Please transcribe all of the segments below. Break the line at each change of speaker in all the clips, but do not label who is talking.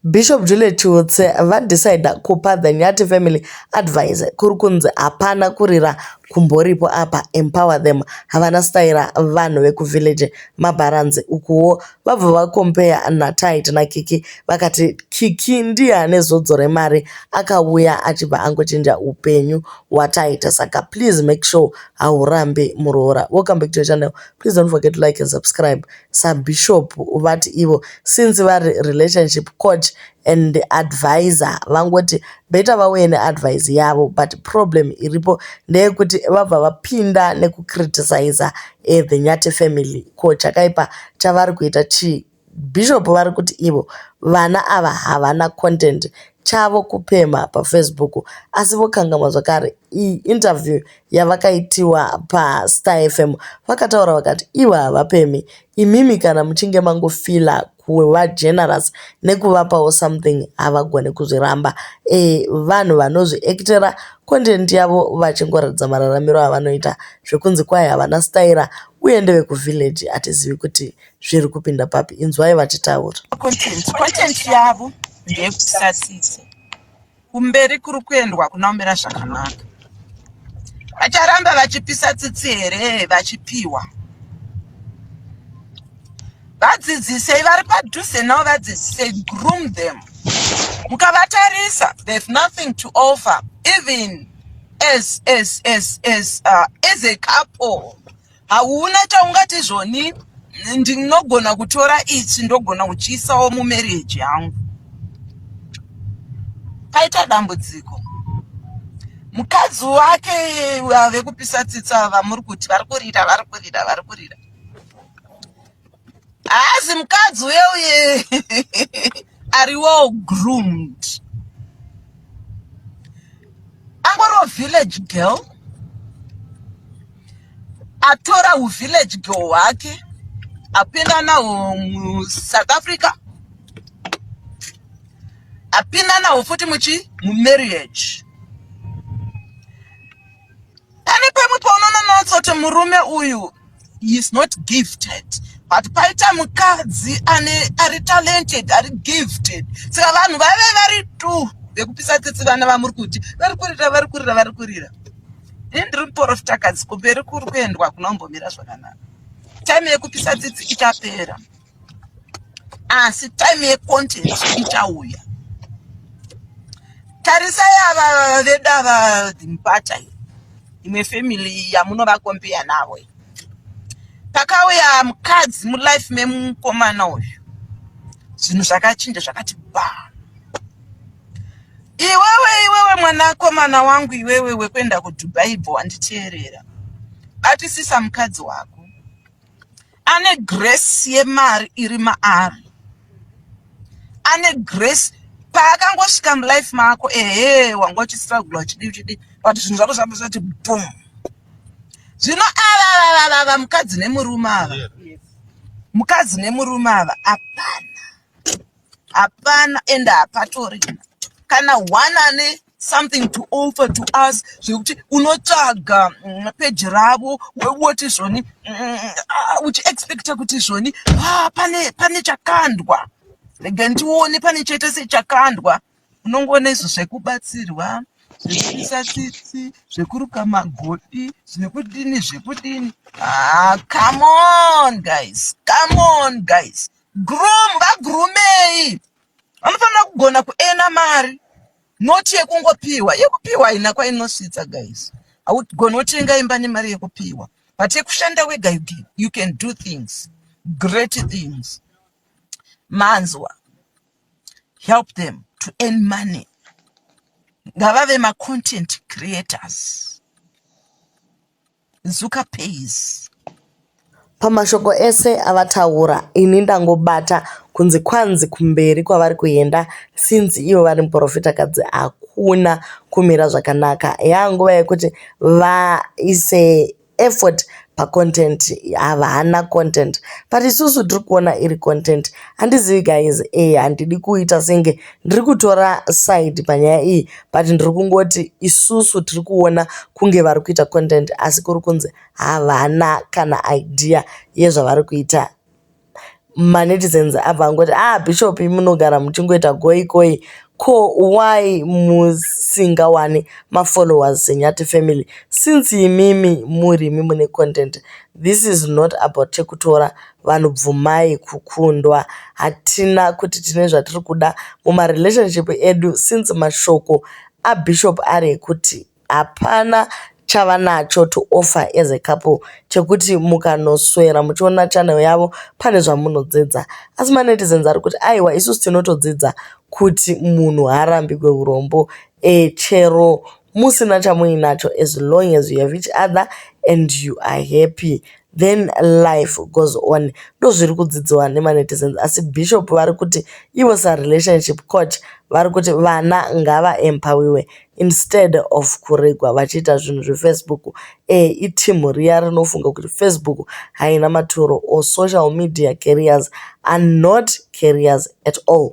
Bishop Juliet Chiutse vadecida kupa The Nyati Family advice kuri kunzi hapana kurira kumboripo apa empower them havana staira vanhu vekuvillage mabharanzi ukuwo vabva vakompeya naTight naKiki vakati Kiki ndiye ane zodzo remari akauya achibva angochinja upenyu hwaTight saka please make sure haurambi muroora welcome back to your channel please don't forget to like and subscribe sabishop vati ivo since vari relationship coach and adviser vangoti better vauye neadvise yavo but problem iripo ndeyekuti vabva vapinda nekucriticiser eh, the nyati family ko chakaipa chavari kuita chii bishop vari kuti ivo vana ava havana content chavo kupemha pafacebook asi vokangamwa zvakare iyi interview yavakaitiwa paStar FM vakataura vakati ivo havapemhi imimi kana muchinge mangofila kuva generous nekuvapawo something havagone kuzviramba e, vanhu vanozviactera content yavo vachingoratidza mararamiro avanoita zvekunzi kwaye havana staira uye ndevekuvillage hatizivi kuti zviri kupinda papi inzwai vachitaura content
yavo ndeyekusasisa kumberi kuri kuendwa kunomira zvakanaka vacharamba vachipisa tsitsi here vachipiwa vadzidzisei vari padhuze navo vadzidzisei groom them mukavatarisa there's nothing to offer even as as as as uh, as a couple hauna chaungati zvoni ndinogona kutora ichi ndogona kuchiisawo mumarriage yangu paita dambudziko mukadzi wake ave kupisa tsitsa vamuri kuti vari kurira vari kurira vari kurira Hazi mukadzi uye uye ari well groomed. Angoriwo village girl. Atora u village girl wake apinda nawo mu South Africa. Apinda nawo futi muchi mu marriage. pane pamwe paunoona notsoti murume uyu is not gifted but paita mukadzi ane ari talented ari gifted saka vanhu vave vari tu vekupisa tsitsi vana vamuri kuti vari kurira vari kurira vari kurira ini ndiri muporofita kadzi kumberi kuri kuendwa kunombomira zvakanaka time yekupisa tsitsi ichapera asi time yecontent ichauya tarisai ava vedu ava dhimpata imwe family yamunovakombeya navo pakauya mukadzi mulife memukomana uyu zvinhu zvakachinja zvakati ba iwewe iwewe mwanakomana wangu iwewe wekuenda kudubai bho wanditeerera batisisa mukadzi wako Ane grace yemari iri maari. Ane grace paakangosvika mulife mako ehe wanga uchistrugula uchidi uchidi but zvinhu zvako zvanga zvati boom. Zvino ava vava mukadzi nemurume ava. Mukadzi nemurume ava apana. hapana and hapatori kana one ane something to offer to us zvekuti unotsvaga mm, peji ravo woti zvoni mm, ah, uchiexpecta kuti zvoni ah, pane pane chakandwa rega ndione pane chaita sechakandwa unongoona izvo zvekubatsirwa zvekuisa tsitsi zvekuruka magoti zvekudini zvekudini ah, come on guys come on guys groom ngagrumei anofanira kugona kuena mari not yekungopiwa yekupiwa haina kwainosvitsa guys haugoni wotenga imba nemari yekupiwa but yekushanda wega you, you can do things great things manzwa help them to earn money ngavave macontent creators Zuka pays.
Pamashoko ese avataura ini ndangobata kunzi kwanzi kumberi kwavari kuenda since ivo vari muprofitakadzi hakuna kumira zvakanaka yaa nguva yekuti vaise effort pacontent havana content but isusu tiri kuona iri content handizivi guys e handidi kuita senge Ndiri kutora side panyaya iyi but ndiri kungoti isusu tiri kuona kunge vari kuita content asi kuri kunzi havana kana idea yezvavari kuita manetizens abva angoti ah bishop munogara muchingoita goikoi ko why musingawani mafollowers senyati family since imimi murimi mune content This is not about chekutora vanhu bvumai kukundwa hatina kuti tine zvatiri kuda muma relationship edu since mashoko aBishop ari ekuti hapana chavanacho to offer as a couple chekuti mukanoswera muchiona channel yavo pane zvamunodzidza asi manetizens ari kuti aiwa isusu tinotodzidza kuti munhu haarambigwe urombo e chero Musina chamuinacho as long as you have each other and you are happy then life goes on ndozviri kudzidziwa nemanetizens asi bishop vari kuti ivo sarelationship coach vari kuti vana ngavaempowiwe instead of kuregwa vachiita zvinhu zvefacebook e itimhu riya rinofunga kuti facebook haina maturo or social media carriers are not carriers at all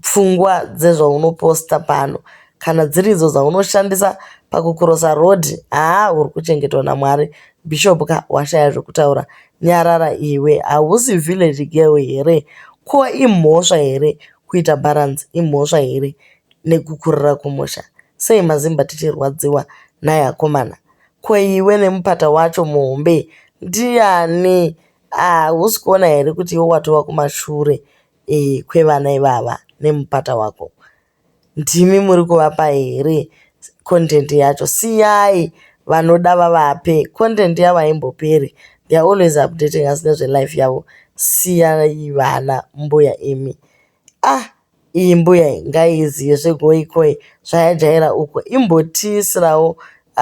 pfungwa dzezvaunoposta pano kana dziri idzo dzaunoshandisa pakukurosa road haa uri kuchengetwa namwari bishop ka washaya zvekutaura nyarara iwe hausi village girl here ko imhosva here kuita balance imhosva here nekukurira kumusha sei mazimba tichirwadziwa nhai akomana ko iwe nemupata wacho muhombe ndiani hausi kuona here kuti iwe watova kumashure kwevana ivava nemupata wako ndimi muri kuvapa here content yacho siyai vanoda vavape content yavo haimboperi they are always updating us nezvelife yavo siyai vana mbuya imi ah iyi mbuya iyi ngaizive zvegoikoi zvayajaira uko imbotiisirawo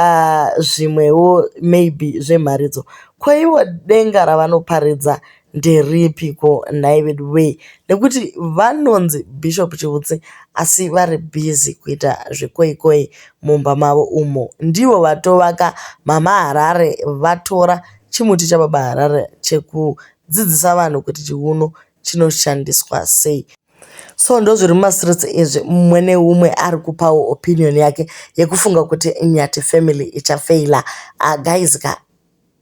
Aah zvimwewo maybe zvemharidzo. Ko ivo denga ravanoparidza nderipi ko nhai veduwee nekuti vanonzi Bishop Chivutsi asi vari busy kuita zvekoi koi mumba mavo umo. Ndivo vatovaka mama Harare vatora chimuti chababa Harare chekudzidzisa vanhu kuti chiuno chinoshandiswa sei. So ndozviri muma streets izvi mumwe neumwe ari kupawo opinion yake yekufunga kuti Nyathi family icha failer. Ahh guys ka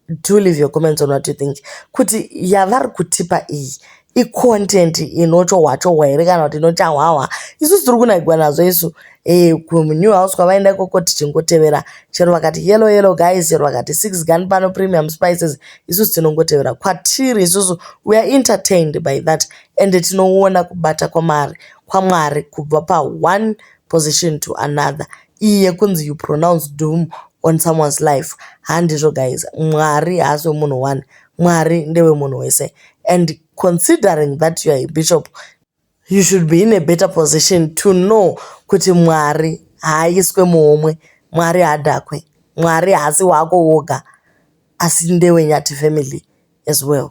do leave your comments on what you think kuti yavari kutipa iyi i content inochohwa chohwa here kana kuti inochahwahwa. Isusu tiri kunakigwa nazvo isu kumu new house kwavaenda ikoko tichingotevera chero vakati yellow yellow guys chero vakati six gun pano premium spices isusu tinongotevera kwatiri isusu we are entertained by that. ende tinoona kubata kwamari kwaMwari kubva pa one position to another iyi yekunzi you pronounce doom on someone's life handizvo guys Mwari haasi wemunhu one Mwari ndewe munhu wese and considering that you are a bishop you should be in a better position to know kuti Mwari haaiswe muhomwe Mwari haadhakwe Mwari haasi wako woga asi ndewe Nyati family as well